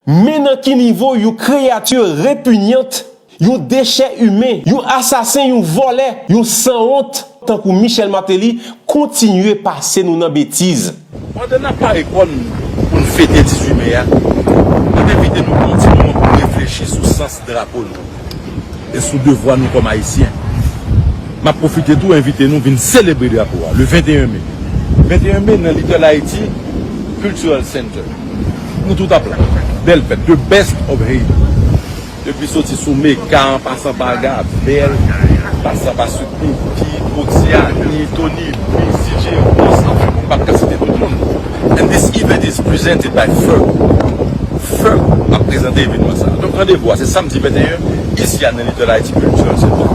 Men nan ki nivo yon kreyati repinyant, yon dechè imen, yon asasen, yon vòlè, yon sanwont tankou Michel Martelly kontinye pase nou nan betiz. Pandan n ap pare kò n pou n fete 18 me a, nou envite nou kontinye reflechi sou sans drapo nou e sou devwa nou kòm ayisyen. M ap pwofite tou envite nou vin selebre drapo a le 21 me. 21 me nan Little Haiti Cultural Center. Nou tout ap la. Bèl fèt. The best of Haiti. Depi soti sou Meka an pasan pa Gabèl, pasan pa Sudney, Guy, Proxia, Tony, Louis, CJ, Ros, anfen m pa p ka site tout moun. And this event is presented by Ferg. Ferg ap prezante evenman sa. Donk randevou a se samdi 21 isi a nan Little Haiti Cultural Center.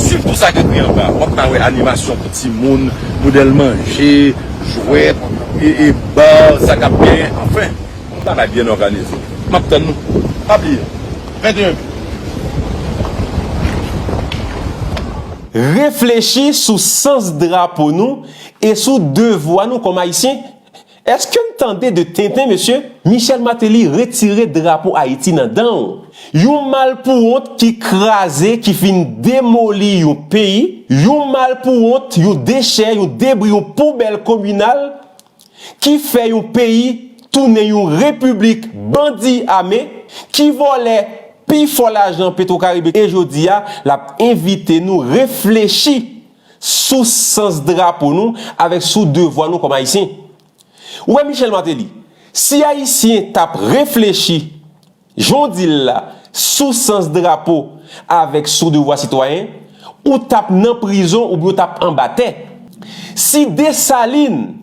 Swiv tou sa k ekri anba a. W ap ka wè animasyon pou timoun, modèl manje, jwèt, e bar sa k ap gen. Anfen, yon bagay byen òganize. M ap tann nou. Pa bliye, 21 me. Reflechi sou sans drapo nou E sou devwa nou kòm Ayisyen, eske n tande de tenten mesye? Michel Martelly retire drapo Ayiti nan dan w, yon malpouwont ki kraze, ki fin demoli yon peyi, yon malpouwont, yon dechè, yon debri, yon poubèl kominal ki fè yon peyi tounen yon repiblik bandi ame, ki vòlè pi fò lajan Petwokaribe e jodi a l ap envite nou reflechi sou sans drapo nou avèk sou devwa nou kòm Ayisyen. Ou wè Michel Martelly, si Ayisyen t ap reflechi jan w di l la sou sans drapo avèk sou devwa sitwayen, ou t ap nan prizon oubyen ou t ap anba tè. Si Dessalines,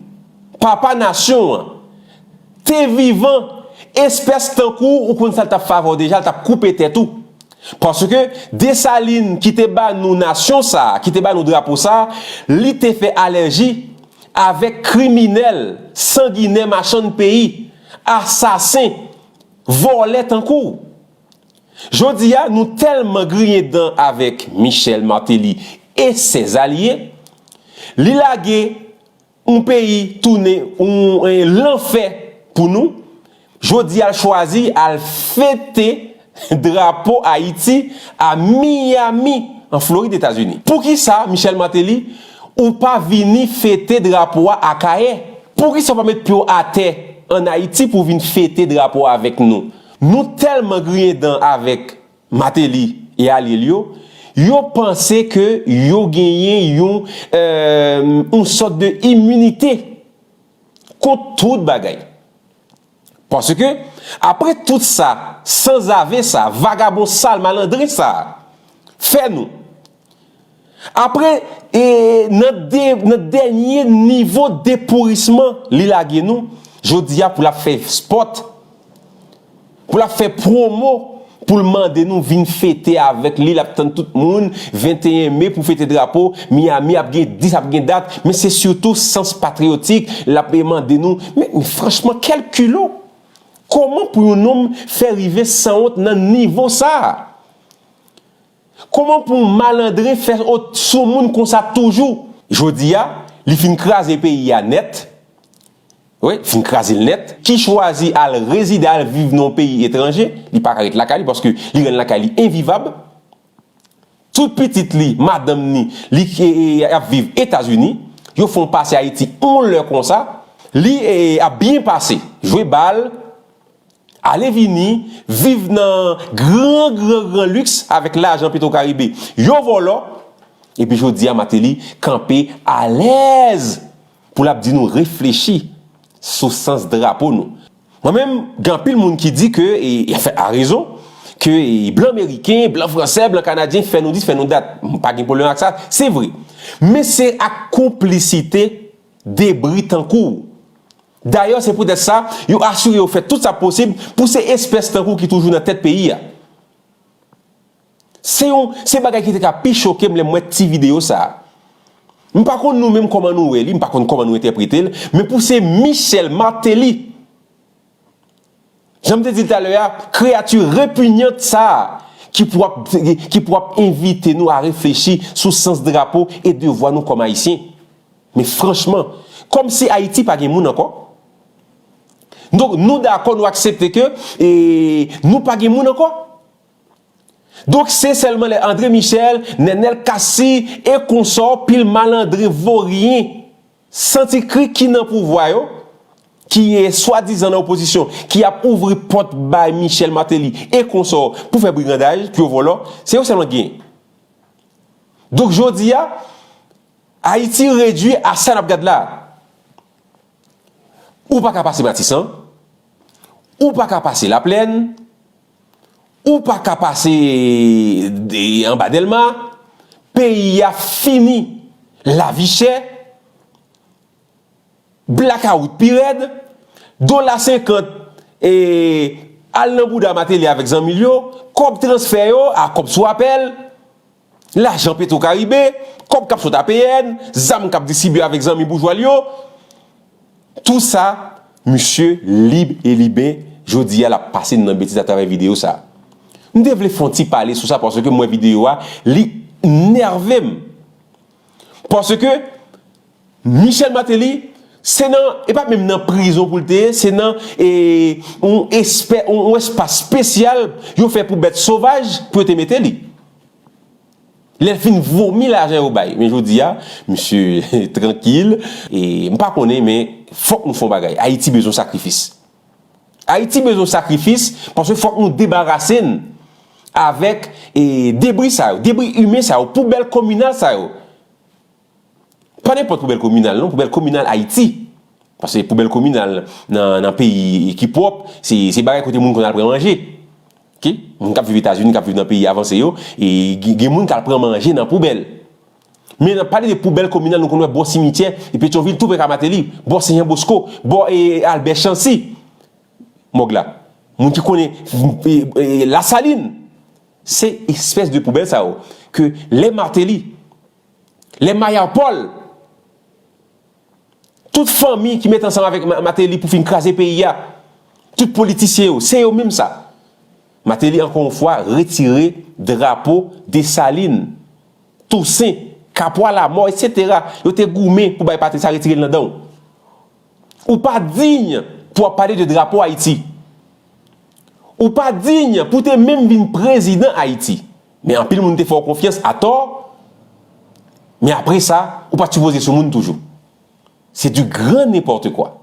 papa nasyon an, te vivan espès tankou ou ou konn sa l tap favè w deja l tap koupe tèt ou paske Dessalines ki te ba nou nasyon sa ki te ba nou drapo sa li te fè alèji avèk kriminèl sanginè machann peyi asasen vòlè tankou w jodi a nou tèlman griyen dan avèk Michel Martelly e sè zalye li lage Yon peyi tounen yon lanfè pou nou, jodi a l chwazi al fete drapo Ayiti a Miami an Florid Etazini. Poukisa Michel Martelly ou pa vini fete drapo a Akayè? Poukisa ou pa met pye w atè an Ayiti pou w vin fete drapo a avèk nou? Nou tèlman griyen dan avèk Mateli e alye l yo, yo panse ke yo genyen yon yon sòt de iminite kont tout bagay. Paske, apre tout sa sanzave sa, vagabon sal malandren sa fè nou, Apre e nan de nan dènye nivo depourisman li lage nou jodi a pou l ap fè spòt, pou l ap fè pwomo, pou l mande nou vin fete avèk li, l ap tann tout moun 21 me pou fete drapo, Miyami ap gen 10 ap gen dat, men se sitou sans patriyotik l ap e mande nou, men men franchman kèl kilò! Kòman pou yon nonm fè rive sanwont nan nivo sa a? Koman pou yon malandren fè ot sou moun konsa toujou? Jodi a, li fin kraze peyi a nèt, wi, fin kraze l nèt, ki chwazi al rezide, al viv nan yon peyi etranje, li pa ka ret lakay li paske li rann lakay li envivab. Tout pitit li, madanm ni, li ap viv Etazini, yo fè yon pase Ayiti yon lè konsa, li ap byen pase, jwe bal. Ale vini, viv nan gran gran gran luxe avèk lajan petro caribe yo vòlò epi jodia Martelly kanpe alèz pou lap di nou reflechi sou sans drapo nou. Mwen menm gen anpil moun ki di ke e anfen a rezon ke blan meriken, blan fransè, blan kanadyen fè nou dis fè nou dat. M pa gen pwoblèm ak sa, se vre. Men se ak konplisite debri tankou w. Dayè se poutèt sa, yo asire yo fè tout sa posib pou se espès tankou ki toujou nan tèt peyi a. Se yon se bagay ki te ka pi choke m lè m wè ti videyo sa a. M pa konn nou menm kòman nou wè li, m pa konn kòman nou entèprete l, men pou se Michel Martelly Jan m te di l talè a, kreyati repinyant sa a ki pou ap ki pou ap envite nou a reflechi sou sans drapo e devwa nou kòm Ayisyen. Men franchman, kòm si Ayiti pa gen moun ankò? Donk nou dakò nou aksepte ke e nou pa gen moun ankò? Donk se sèlman lè Andre Michel, Nenel Cassy e konsò pil malandren voryen Santi kri ki nan pouvwa yo, ki swadizan nan opozisyon, ki ap ouvri pòt bay Michel Martelly e konsò pou fè brigandaj, pou yo vòlò, se yo sèlman k genyen. Donk jodi a, Ayiti redui a sa n ap gad la a. Ou pa ka pase Matisan, ou pa ka pase Laplèn. Ou pa ka pase anba delma, peyi a fini, lavi chè, blakawout pi rèd, dola senkant al nan bouda Mateli avèk zanmi l yo, kòb transfè yo a kòb sou apèl. Lajan Petrocaribe, kòb k ap sot APN, zam k ap distribye avèk zanmi boujwa l yo, tou sa, misye lib e liben, jodi a l ap pase n nan betiz atravè videyo sa. M te vle fè yon ti pale sou sa paske m wè videyo a, li nève m. Paske. Michel Martelly se nan e pa menm nan prizon pou l te ye, se nan e yon espè yon espas spesyal yo fè pou bèt sovaj pou yo te mete li. Lè l fin vomi lajan yo bay. Men jodi a, misye trankil e m pa konnen men fòk nou fè yon bagay. Ayiti bezwen yon sakrifis. Ayiti bezwen yon sakrifis paske fòk nou debarase n avèk e debri sa yo, debri imen sa yo, poubèl kominal sa yo. Pa nenpòt poubèl kominal non, poubèl kominal Ayiti. Pase poubèl kominal nan peyi ki pwòp, se bagay kote moun konn al pran manje. Ok, moun k ap viv Etazini, k ap viv nan peyi avanse yo, gen moun k al pran manje nan poubèl. Men nan pale de poubèl kominal nou konn wè bò simityè e Petyonvil tou prè ka Mateli, bò Sen Jan Bosko, bò Albè Chansi. Mòg la. Moun ki konnen Lasalin. Se espès de poubèl sa yo ke lè Mateli. Lè Maya Paul, tout fanmi ki met ansanm avèk Mateli pou fin kraze peyi a, tout politisyen yo, se yo minm sa. Mateli ankò yon fwa retire drapo Desalin, Tousen, Kapwa Lamò, etc. Yo te goumen pou bay patri sa retire l nan dan w. Ou pa diy pou ap pale de drapo Ayiti. Ou pa diy pou te minm vin prezidan Ayiti. Men anpil moun te fè w konfyans atò, men apre sa, ou pa t sipoze sou moun toujou. Se du grand n'importe quoi.